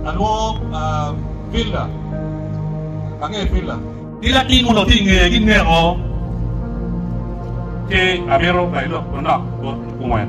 Alwongo Villa. Angeyo Villa. Ki latin muno tye i ngeye ki neko. Ci amito bayi lok manok bot kungwen.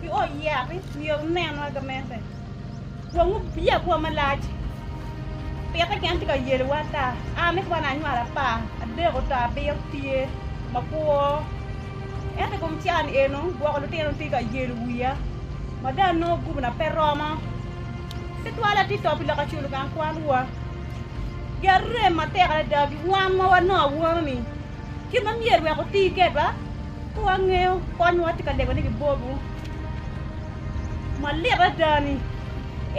Pi ot yat-ti myero wunen wai gamente, wun wubiye abwa malac, pite gin tye ka yelowa ata. An ni kwan anywalo apar, adeko to abiro tye makwo, ento i kom can eno gwoko lutino tye ka yelo wiya ma dong anongo gubina pe romo. Ci twala tye to pi lok aculo gang kwanwa. Gin arem matek adada pi wan ma wanongo awano-ni. Gin ma myero wek wuti kedwa ka wangeyo kony ma watye ka lego ni gibobu malit adada ni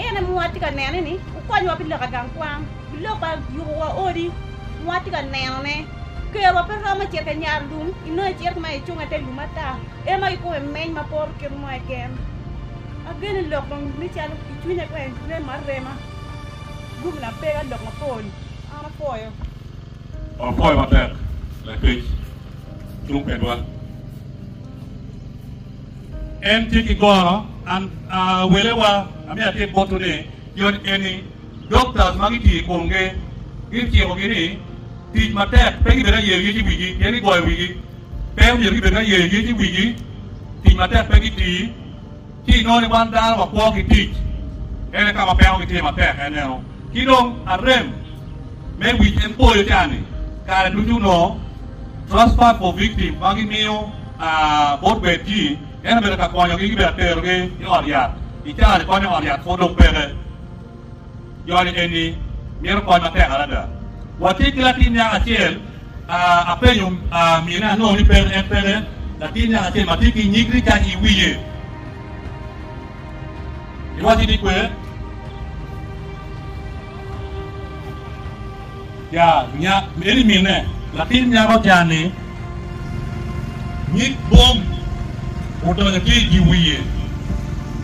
en aye ma watye ka neno ni wukonywa pi lok i gang kwan, pi lok pa yubo wa odi ma watye ka neno ne. Kerwa pe romo cito ka nyar lum inongo icito ma icung i te lum ata en ma kikobo i meny ma poro kit mo keken. Ageno ni lok dong me calo i cwinya kong remo arema guminwa pega lok mapol an apoyo. Wapwoyo matek lakec cung kwedwa. En tye ki goro an welewa amye atim botwu ni yot eni doctors ma gitiyo i komgi gicikogi ni tic matek pe gibed aye yec i wigi pien gigoyo wigi pe omyero gibed aye yec i wigi tic matek pe gitii Ci i noni wan dano wakwo ki tic, ene ka ma peko gitye matek eneno. Ki dong arem me wic en poyo ca ni kare ducu onongo Transfer for Victim ma gimiyo bot bed ji en obedo ka konyogi, gibedo ka terogi i ot yat. I caa ni konyo ot yat pwod dong peke. Joni eni mito kony matek adada. Watye ki latin nyako acel, apenyo mine anongo ni peke, en peke, latin nyako acel ma tye ki nyig ricac i wiye. Iwacci ni kwer? Ja nya, eni minne. Latin nyako ca-ni nyig bom odonyo ki i dye wiye.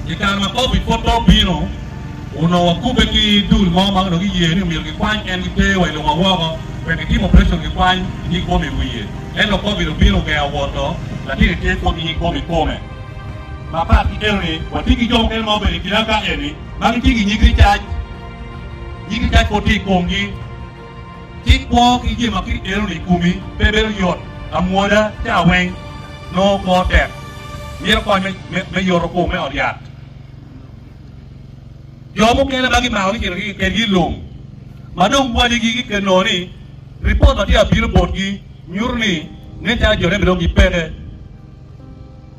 I kare ma Covid pud pe obino, onongo wakubbe ki dul mo ma onongo giye ni omyero gikwany en giter wa i lobo woko wek gitim operation gikwany nyig bom i wiye. Ento Covid obino ogengo woto, latin-ni tye pud ki nyig bom i kome. Mapat ki eno-ni, watye ki jo mukene ma obedo i kinawa ka eni ma gitye ki nyig ricac. Nyingi tekko tye i komgi, ci kwo ki jami ma kit enoni i komi pe bedo yot. Amwoda ca weng nongo kwo tek, mito kony me yoto kom me ot yat. Jo mukene ma gimako ni cito kedgi i lum ma dong wadigi giked nongo ni ripot ma tye ka bino botgi nyuto ni nen calo jone bene dong gipeke.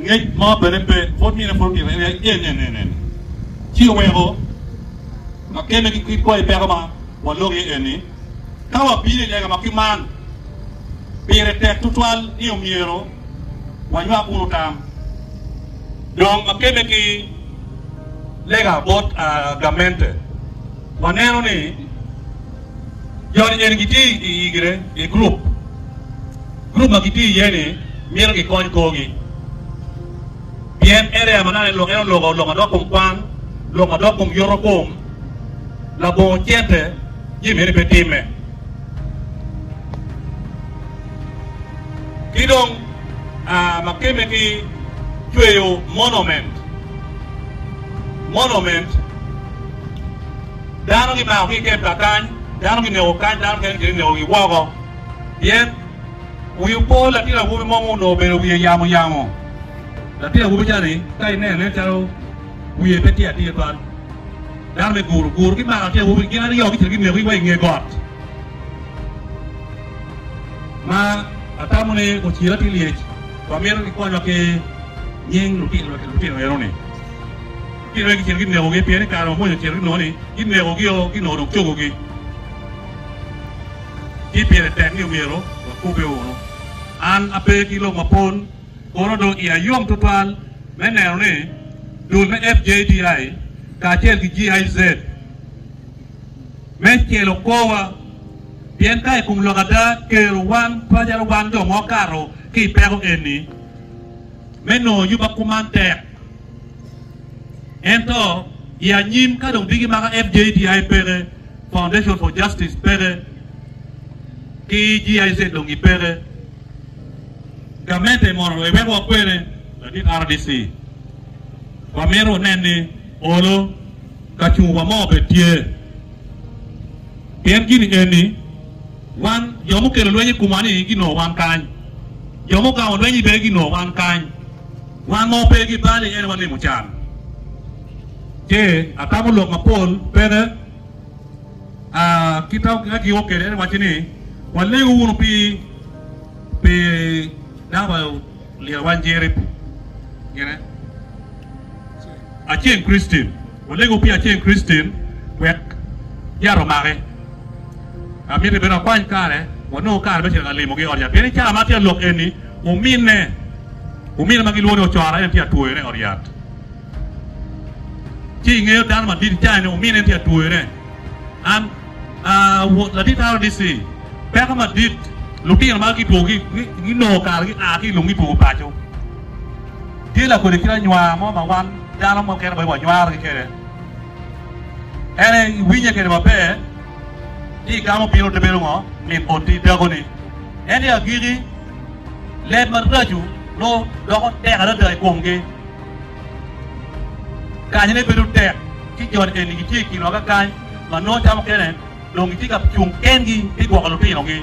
Ngec mo bene pe, pwod myero epwod gire en aye en, en, en, en. Ci oweko kakemme ki kit kwayi peko ma waloko iye enni, ka wabino i lega ma ki man, pire tek tutwal ni omyero wanywak kunu tam. Dong kakemme ki lega bot gamente, waneno ni joni eni gitye i gire i gurup. Gurup ma gitye iye-ni myero gikony korgi, pien en aye amanana i lok eno, loko, lok madok kom kwan, lok madok kom yoto kom, labongo cente, jami eni pe timme. Ki dong aa ma kemme ki cweyo monument, monument, dano gimako ki i kem ka kany, dano gineko kany, dano mukene gitye ka nekogi woko. pien wi opo latin awobi mo ma onongo obedo wiye yamo yamo. Latin awobi ca-ni ka ineno nen calo wiye pe tye atir twal. Dano me guru guru gimako latin awobi-ni gin aryo gicito gineko wa i nge got ma atamo ni ociro atir lyec. Wamito kikonywa ki nying lutino eno-ni. Lutino eni gicito ginekogi pien i kare ma Muca ocito ginongo ni ginekogio ginongo dong cogogi. ci pire tek ni myero wakube unu. An ape ki lok mapol, kono dong iya yom tutwal me neno ni dul me FJDI kacel ki GIZ me celo korwa, pien ka i kom lok ada, kero wan pacalo wan jo ma wakato ki i peko eni me nongo yuba kuman tek. Ento i anyim ka dong bigimaka FJDI peke, Foundation for Justice peke, ki GIZ dong gi peke. Gamente mono lwe wek wakwene ladit RDC. Wamito wunen ni olo kacung wa mo obed tye. Pien gini eni, wan jo mukelo lweny i kumwa ni ginongo wan kany. Jo mugamo lweny i be ginongo wan kany. Wan ma wape ki bal i ene wanimo can. Ce atamo lok mapol peke. aa, kit ma giyubo kwede en wacci ni, Walegu wunu pi, pi dako ma oliro wang Jerip, gine, Aceng Christine, walegu pi Aceng Christine wek yat omake. Amito bene wakwany kare, wanongo kare me cito ka limogi i ot yat, pien i cawa ma atye ka lok eni, ominne, ominne ma gilwongo ni Ocora en tye ka twoyone i ot yat. Ci i ngeyo dano madit icayo ni wumin en tye ka twoyone. An a wot ladit RDC, peko madit lutino ma gitwo ki ginongo kare gia ki i lum gitwo paco. Tye lakodi kit anywar mo ma wan dano mukene bene wanywarogi kwede. En aye iwinye kwede maber ci igamo piny ote bedo ngo mit boti dakoni. Ento i agiki leb maraco nongo doko tek adada i komgi. Kanyone bedo tek ci jo eni gitye i kin loka kany ma nongo ca mukene dong gitye ka cung kengi me gwoko lutinogi.